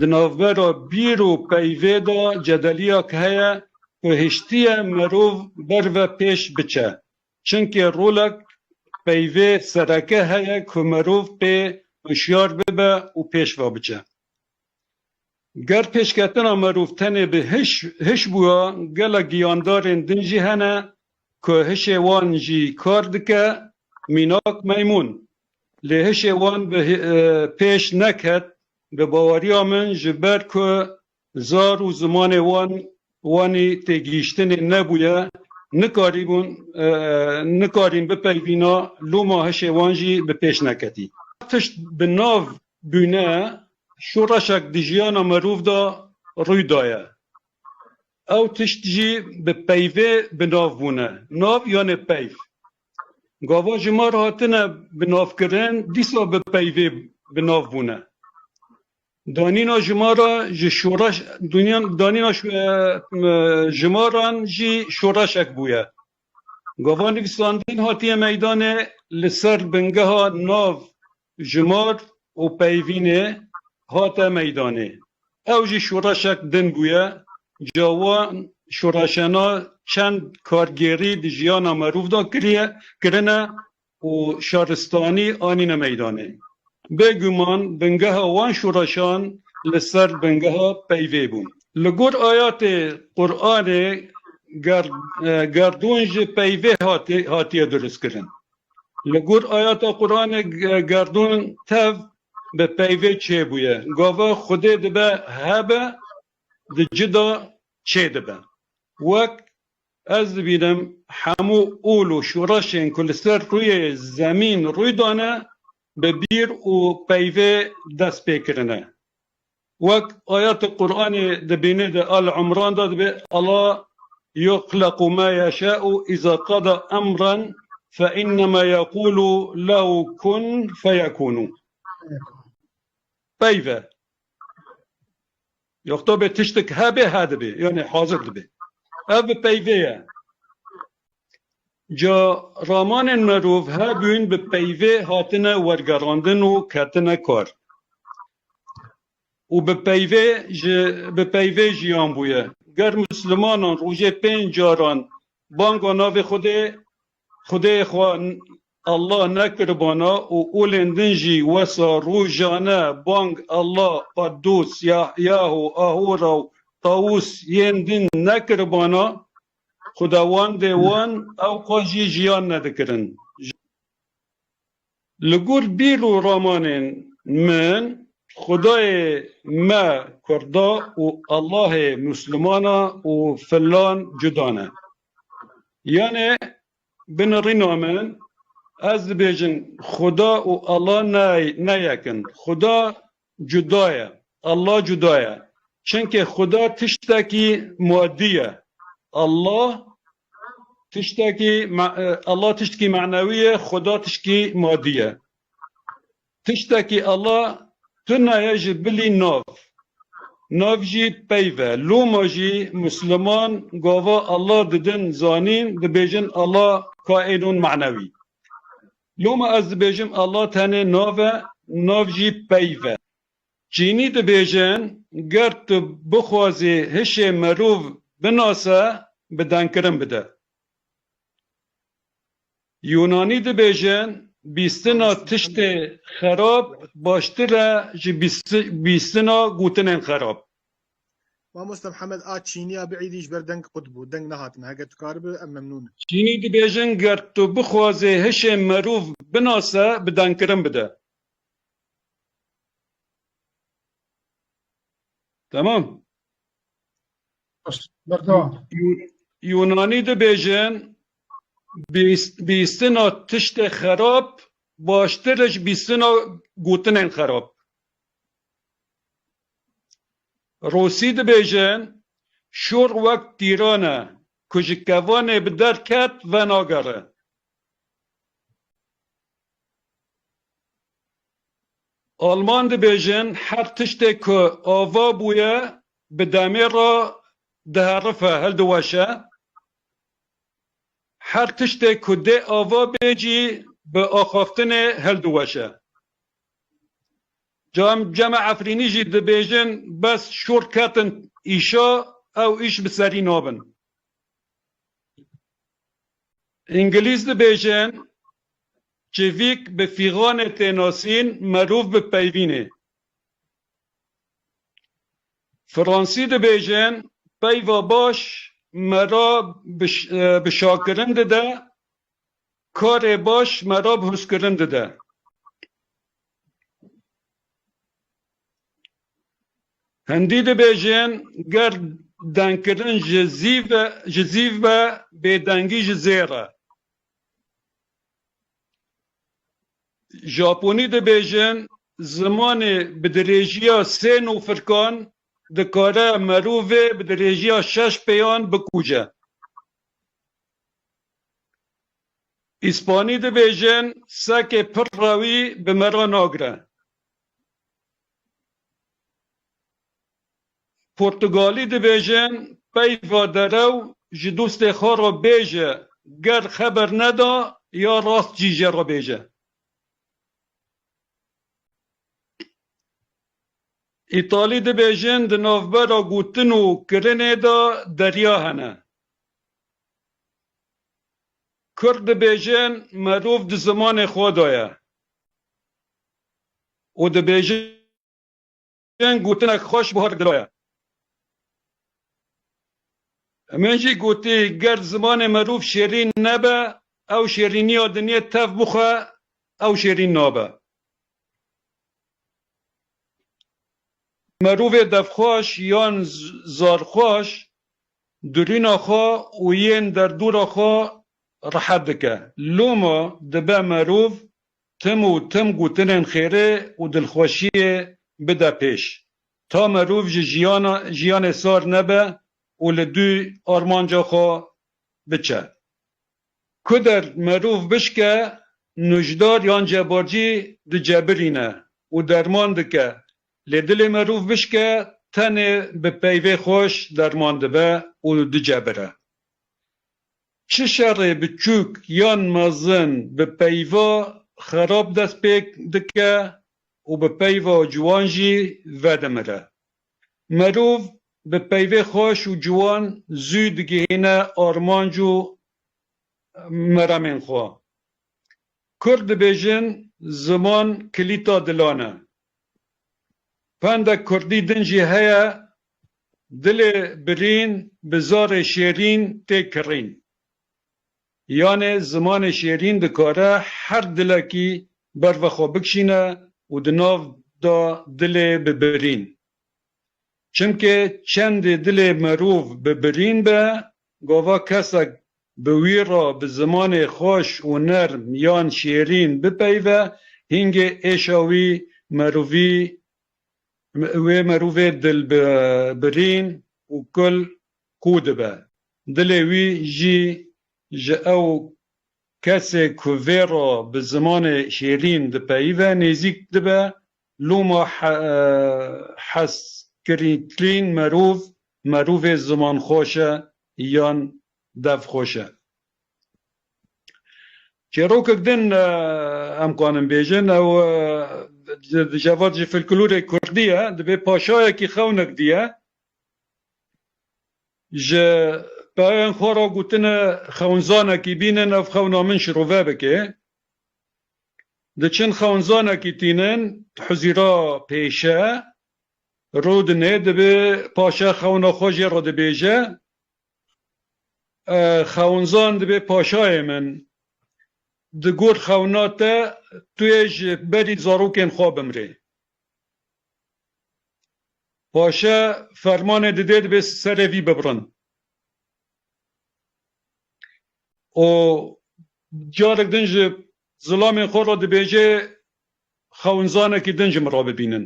Di navbera bîr û peyvê de cedeliya heye ku hiştiye mirov ber ve pêş biçe. Çimkî rolek peyvê sereke heye ku mirov pê hişyar bibe û pêş ve biçe. Ger pêşketina mirov tenê bi hiş hiş bûya, gelek giyandarên din jî hene ku hişê wan jî kar dike, mînak meymûn. Lê hişê wan bi pêş neket, bi baweriya min ji ber ku Zar û zimanê wan wanî têgihîştinê nebûye, nikarîbûn nikarîn bipeyvîna loma hişê wan jî bi pêş neketî. Tişt bi nav bûne şoreşek di jiyana mirov de rûy daye. Ew tişt jî bi peyvê bi nav bûne. Nav yanê peyv. Gavan ji mar hatine bi navkirin dîsa bi peyvê bi nav bûne. Danîna ji ma re ji şoreş dûnya danîna ji ma re jî şoreşek bûye. Gava nivîsandin hatiye meydanê li ser bingeha nav ji mar û peyvînê hate meydanê. Ew jî şoreşek din bûye. Ca wan şoreşena çend kargêrî di jiyana merov de kiriye kirine. û şaristanî anîne meydanê. Bê guman bingeha wan şoreşan li ser bingeha peyvê bû. Li gor ayatê Quranê gerdûn ji peyvê hatiye dirustkirin. Li gor ayata Quranê gerdûn tev bi peyvê çêbûye. Gava Xwedê dibe hebe di cida çêdibe. Wek. Ez dibînim hemû ol û şoreşên ku li ser rûyê zemîn rûy dane bi bîr û peyvê dest pê kirine. Wek ayetê Quranê di bînê de Al Umran de dibê Ela yuxlequ ma yeşa'u iza qada emran fe innema yequlu lehu kun feyekunu. Peyve. Yoxta bê tiştik hebê he dibê yanê hazir dibê. Ev bi peyvê ye. Ca ramanên merov hebûn bi peyvê hatine wergerandin û ketine kar. Û bi peyvê ji bi peyvê jiyan bûye. Ger muslimanan rojê pênc caran banga navê xwedê xwedêyê xwe Allah ne kirbana û olên din jî wesa rojane bang Allah, Qaddos, Yahyaho, Ahora û Tawus yên din ne kirbana, xudawandê wan ew xwe jî jiyan ne dikirin. Li gor bîr û ramanên min xudayê me kurda û Allahê muslimana û filan cuda ne. Yanê Binirîna min, ez dibêjim Xuda û Allah ne yek in. Xuda cuda ye, Allah cuda ye. Çimkî Xuda tiştekî madî ye. Allah tiştekî Allah tiştekî manewî ye, Xuda tiştekî madî ye. Tiştekî ala tune ye ji bilî nav, nav jî peyv e. Loma jî Musliman gava ala didin zanîn dibêjin ala kaînûn manewî. Loma ez dibêjim ala tenê nav e, nav jî peyv e. Çînî dibêjin ger tu bixwazî hişê mirov binase bi dengkirin bide. Yûnanî dibêjin, bîstina tiştê xerab baştir e ji bîstina gotinên xerab. Mamoste Mihemed a Çînî a bi êdî ji ber deng qut bû, deng nehatine, heger tu karibe em memnûn in. Çînî dibêjin ger tu bixwazê hişê merov binase bi dengkirin bide. Temam. Yûnanî dibêjin bîstina tiştê xerab baştir e ji bîstina gotinên xerab. Rûsî dibêjin şûr wek tîran e ku ji kevanê bi derket venagere. Alman dibêjin her tiştê ku ava bûye bi demê re diherife, hildiweşe. Her tiştê ku dê ava bê jî bi axaftinê hildiweşe. Ca em cema Efrînî jî dibêjin bes şor ketin îşa ew îş bi serî nabin. Îngilîz dibêjin, Çivîk bi fîxanê tê nasîn, merûv bi peyvînê. Fransî dibêjin, Peyva baş me ra bi şakirin dide, karê baş me ra bi hûskirin dide. Hindî dibêjin ger dengkirin ji zîv e ji zîv be bêdengî ji zêr e. Japonî dibêjin zimanê bi dirêjiya sê nûfirkan dikare merovê bi dirêjiya şeş pêyan bikuje. Îspanî dibêjin sekê pir rewî bi me re nagire. Portugalî dibêjin peyva derew ji dostê xwe re bêje ger xeber neda ya rast jî jê re bêje. Îtalî dibêjin di navbera gotin û kirinê de derya hene. Kurd dibêjin merov di zimanê xwe de ye û dibêjin gotinek xweş buha li dilo ye. Min jî gotî ger zimanê merov şêrîn nebe ew şêrîniya dinyê tev bixwe ew şêrîn nabe. Merovê devxweş yan zarxweş Dirîna xwe û yên derdora xwe rehet dike. Loma dibe merov tim û tim gotinên xêrê û dilxweşiyê bide pêş. Ta merov ji jiyana jiyanê sar nebe û li dûy armanca xwe biçe. Ku der merov bişke, nujdar yan cebarcî dicebirîne û derman dike Lê dilê merûv bişk e, tenê bi peyvê xweş derman dibe û dicebire. Çi şerê biçûk yan mezin bi peyva xerab dest pê dike û bi peyva ciwan jî vedimire. Merûv bi peyvê xweş û ciwan zû digihîne armanc û meremên xwe. Kurd dibêjin ziman kilîta dilan e. Pendek kurdî din jî heye, Dilê birîn bi zarê şêrîn tê kirîn. Yanê zimanê şêrîn dikare her dilekî ber ve xwe bikişîne û di nav de dilê bi birîn. Çimkê çendê dilê merov bi birîn be, gava kesek Bi wî re bi zimanê xweş û nerm yan şêrîn bipeyve, hingê êşa wî mirovî wê mirovê dil bi birîn û kul qû dibe. Dilê wî jî ji ew kesê ku vê re bi zimanê şêrîn dipeyve nêzîk dibe. Loma hestkirîtrîn mirov, mirovê zimanxweş e yan Dev xweş e. Çêrokek din em kanin bêjin ew di cevat ji filklorê kurdî ye, divê paşayekî xewnek diye ji peyayên xwe re gotine xewnzanekî bînin ev xewna min şirove bike. Diçin xewnzanekî tînin huzîra pêşe rûdine divê paşa xewna xwe jê re dibêje. Xewnzan dibe paşayê min. Digot xewna te, tu yê ji berî zarokên xwe bimrê. Paşe fermanê dide dibe serê vî bibrin. Û carek din ji zilamên xwe re dibêje, Xewnzanekî din ji min re bibînin.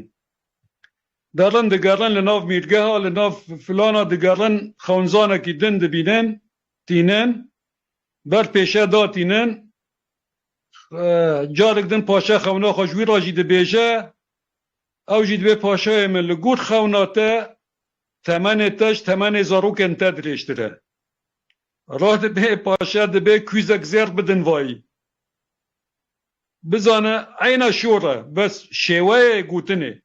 Derin digerin li nav mîrgeha, li nav filana digerin xewnzanekî din dibînin, tînin. Ber pêşe da tînin. Carek din paşa xewna xwe ji wî re jî dibêje. Ew jî dibê paşayê min li gor xewna te temenê te ji temenê zarokên te dirêjtir e. Re dibe paşa dibê kûzek zêr bidin vayî. Bizane eyna şor e, bes şêweyê gotinê.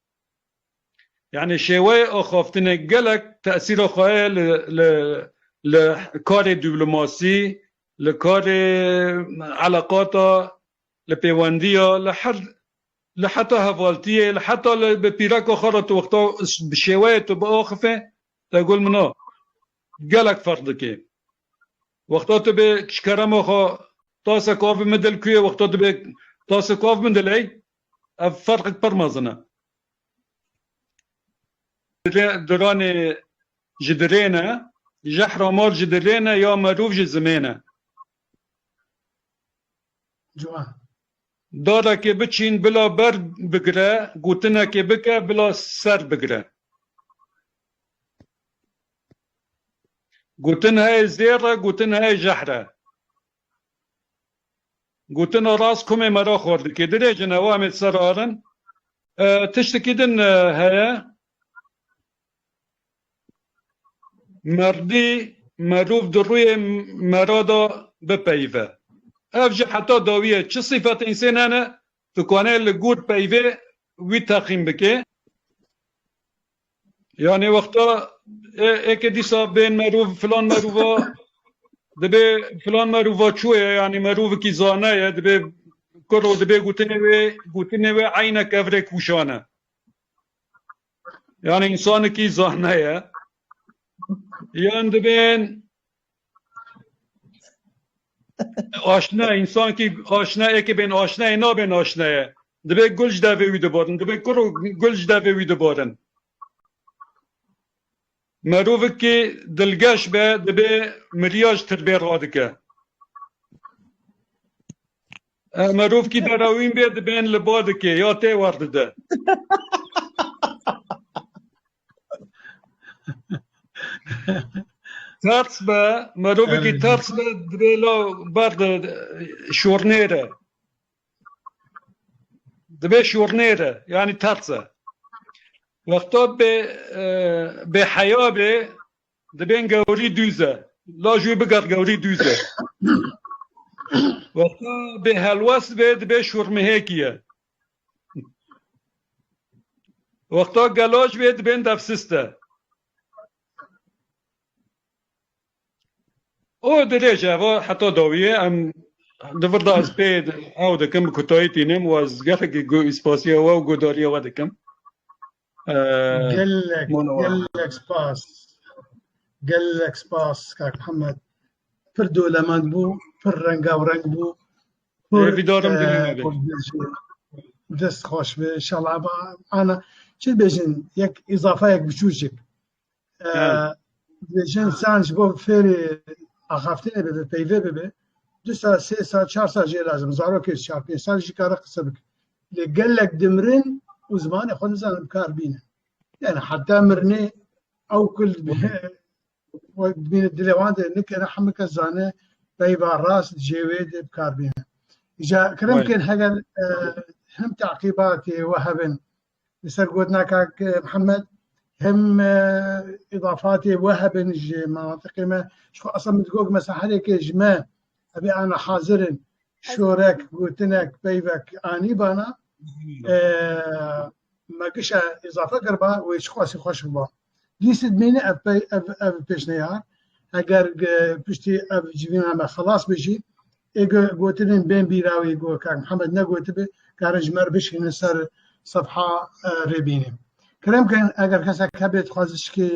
Yanî şêweyê axaftinê gelek tesîra xwe heye li karê dîplomasî, li karê eleqata, li pêwendiya, li her li heta hevaltiyê, li heta li bi pîreka xwe re tu wexta bi şêweyê tu biaxifê te gul min a gelek ferq dike. Wexta tu bê çikerema xwe tasek avê min dil kuyê wexta tu bê tasek av min diley Ev ferqek pir mezin e. Diranê ji dirê ne, jehra mal ji dirê ne ya merûv ji zimê ne. Ciwan. Darekê biçîn bila ber bigire, gotinekê bike bila ser bigire. Gotin heye zêr e, gotin heye jehr e. Gotina rast komê me re xor dike. Dirê jin ew em ê ser arin. Tiştekî din heye. Merdî, merov di rûyê me re de bipeyive. Ev jî heta dawiyê çi sîfetên sê nene Dikwane li gor peyvê wî teqîm bike. Yanê wexta eke dîsa bên merov filan merova dibê filan merova çû ye yanî merovekî zana ye dibê kur û dibê gotinê wê gotinê wê eyne kevrê kûşane. Yanî însanekî zana ye. Yan dibên Aşna insankî aşna eke bên aşnayê nabên aşnaye. Divê gul ji devê wî dibarin, divê kur û gul ji devê wî dibarin. Merovikî dilgeş be dibê miriya ji tirbê radike. Merovkî berawîn bê dibên li ba dike ya tê werdide. Terz be, merovekî terz be divê la ber de şornêre. Divê şornêre, yanî terz e. Wexta bê bê heya bê dibên gewrî dûz e. La jû biger gewrî dûz e. Wexta bê helwest bê dibê şormihêkî ye. Wexta gelo ji wê dibên defsiste. O dirêj e va heta dawiyê em di virda ez pê ew dikim bi kutayî tînim û ez gelekî spasiya we û guhdarîya we dikim. Gelek gelek spas. Gelek spas Kak Muhammed. Pir dolemend bû, pir rengavrenk bû. Vîdarim dest xweş be. İnşallah ba ana çi bêjin yek îzafeyek biçûcik. Dibêjin san ji bo fêrê axaftinê bibe peyvê bibe du sal sê sal çar sal jê lazim zarokê çar pênc sal jî kare qise bike lê gelek dimirin û zimanê xwe nizanin kar bîne yani heta mirinê ew kul dibîne dilê wan de nikere hemû kes zane peyva rast jê wê de bikar bîne ja kirim kin heger hem teqîbatê we hebin li ser gotina kak Mihemed hem îdafatê we hebin ji menatiqê me ji xwe esa min digot mesela herêkê ji me evê ana hazirin şorek gotinek peyvek anî bana me kişa îzafe kiriba wê çi xwesî xweş biba. Lîstik dimîne ev pey ev ev pêşneyar eger piştî ev civîname xelas be jî ê gotinên bên bîra wî ku Kak Mihemed negotibe karin ji me re bişînin ser sefha rê bînin. Kirem kirin eger kesek hebe dixwaze şikê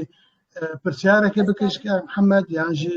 pirsyareke bike ji Kak Mihemed yan jî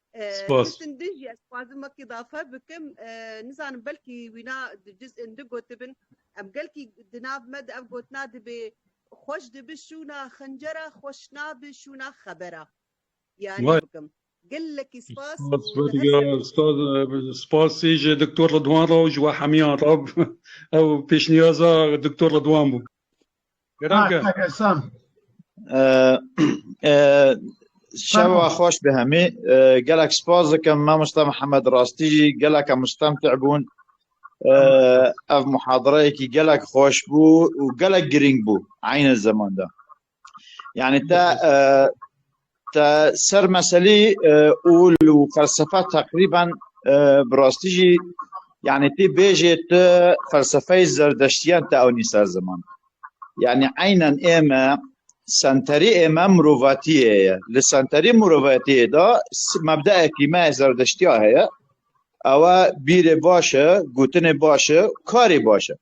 Spas. Hiştin dij ye, dixwazim wekî dafe bikim. Nizanim belkî wîna di cîz indi gotibin. Em gelkî di nav me de ev gotina dibê, Xweş dibi şûna xincera, xweş nabi şûna xebera. Ya nebikim. Gelekî spas. Spas ê ji Doktor Ridwan re û ji we hemiyan re. Ew pêşniyaza Doktor Ridwan bû. Geran ke. Tak Esen. Şeva xweş bi hemî gelek spas dikim mamosta Mihemed rastî jî gelek em mustemtî bûn ev muhadireyekî gelek xweş bû û gelek girîng bû eyne zeman de. Yani te Te ser meselî ûl û felsefa teqrîben bi rastî jî yanî pê bêjê tu felsefeyê zerdeştiyan te ewnî ser ziman. Yanî eynen ême senterî ême mirovatiyê ye. Li senterî mirovatiyê de mebdeekî me yê zerdeştiya heye. Ew e bîrê baş e, gotinê baş e, karê baş e.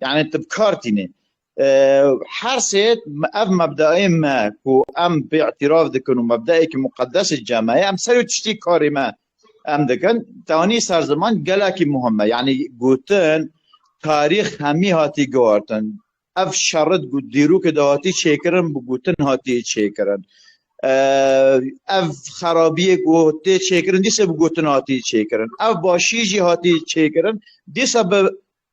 Yani tu bi kar tînê. Her sê ev mebdaê me ku em pê îtiraf dikin û mebdaekî muqedesê ceme ye em ser wî tiştî karê me em dikin tanî ser ziman gelekî muhim e. Yani gotin tarîx hemî hatî guhartin. Ev şerri di dîrokê de hatî çêkirin bi gotin hatî çêkirin. Ev xerabiyê ku tê çêkirin dîsa bi gotin hatî çêkirin. Ev başî jî hatî çêkirin dîsa bi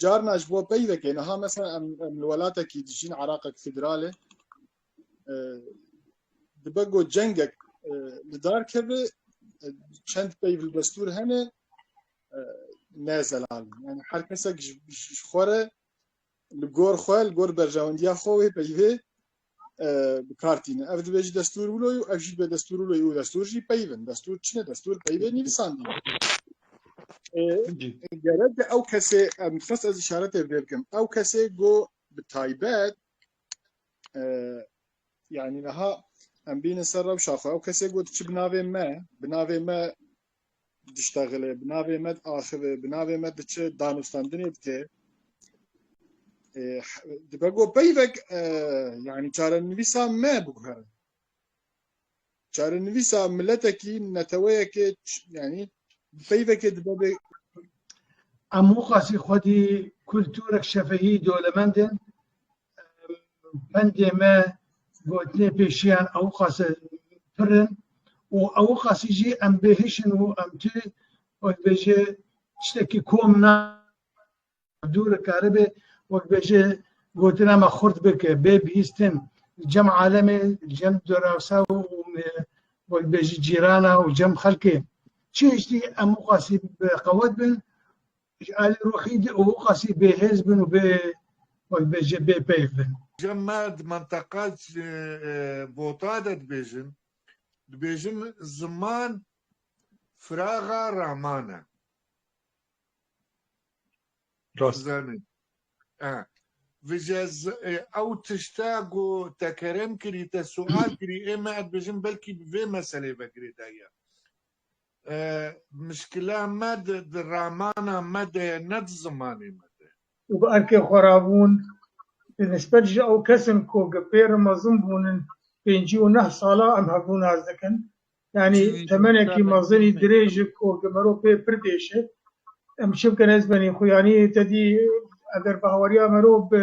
Carna ji bo peyvekê niha mesela em em li welatekî dijîn Iraqek federalê dibe got cengek li dar keve çend peyv li destûr hene ne zelal yani her kesek ji xwe re li gor xwe li gor berjewendiya xwe wê peyvê bi kar tîne. Ev dibê jî destûr wilo û ev jî dibê destûr wilo û destûr jî peyv in. Destûr çi ne? Destûr peyvê nivîsandî ne. Gerek de ew kesê em dixwest ez îşaretê vê bikim. Ew kesê go bi taybet yanî niha em bînin ser rewşa xwe. Ew kesê go diçi bi navê me, bi navê me diştexile, bi navê me diaxive, bi navê me diçe danûstandinê dike. Dibe ku peyvek yanî çarenivîsa me biguhere. Çarenivîsa miletekî neteweyekê yanî peyvekê dibe bê Em xwesî xwedî kulturek şefehî dolemend in. Pendê me gotinê pêşiyan ewqas e pir in û ewqasî jî em bêhişin û em tu wekbêje tiştekî kom na dûr karibê wekbêje gotina me xurt bike bê bihîstin cem alemê cem dorawsa û wekbêje cîrana û cem xelkê çi hiştî em ewqasî bi qewet bin Ji alî ruhî di û qasî bêhêz bin û bê wek bêje bê peyv bin. Cem me di menteqa Bota de dibêjin, dibêjin ziman firaxa raman e. Rast. Vije ew tişta ku tekerem kirî te sual kirî ê me ez dibêjim belkî bi vê meselê ve girêdayiya. Mişkila me di ramana me de ye ne di zimanê me de. Û bi erkê xwe re bûn. Di nisbet ji ew kesin ku gi pêre mezin bûnin pêncî û neh salan em hevbûna ez dikin. Yanî temenekî mezinî dirêj e ku gi merov pê pir dêş e. Em çi bikin ez benî xwe yanî te dî eger bi hawariya merov bi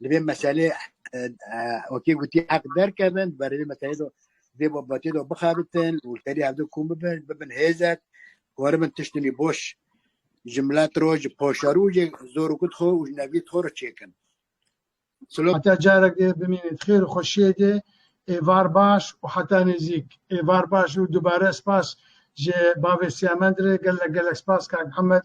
Li vê meselê wekî gotî heq derkevin di berê vê meselê de vê babatê de bixebitin û serî hevdû kom bibin bibin hêzek waribin tiştinî boş ji milet ro ji poşarûjê zor û kut xwe û ji nevî xwe re çêkin. Heta carek dê bimînit xêr û xweşiyê dê êvar baş û heta nêzîk êvar baş û dubare spas ji bavê Siyamend re gelek gelek spas kak Mihemed